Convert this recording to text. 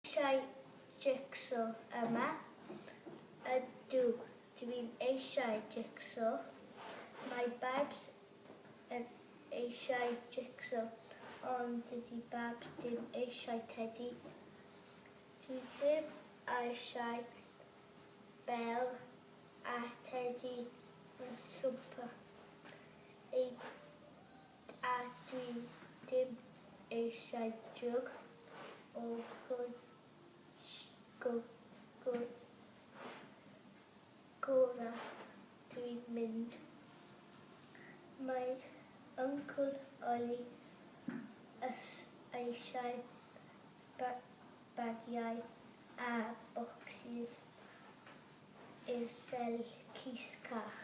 Eisiau jig-so yma? Ydw, dwi'n eisiau jig-so. Mae Babs yn eisiau jig-so, ond dydy Babs ddim eisiau tedi. Dwi ddim eisiau Bel a Tedi yn swmpo, a dwi ddim eisiau jwg o gwd gorau dwi'n mynd. Mae Yncwl Oli ys eisiau bagiau a bocsys i'r sell cys cach.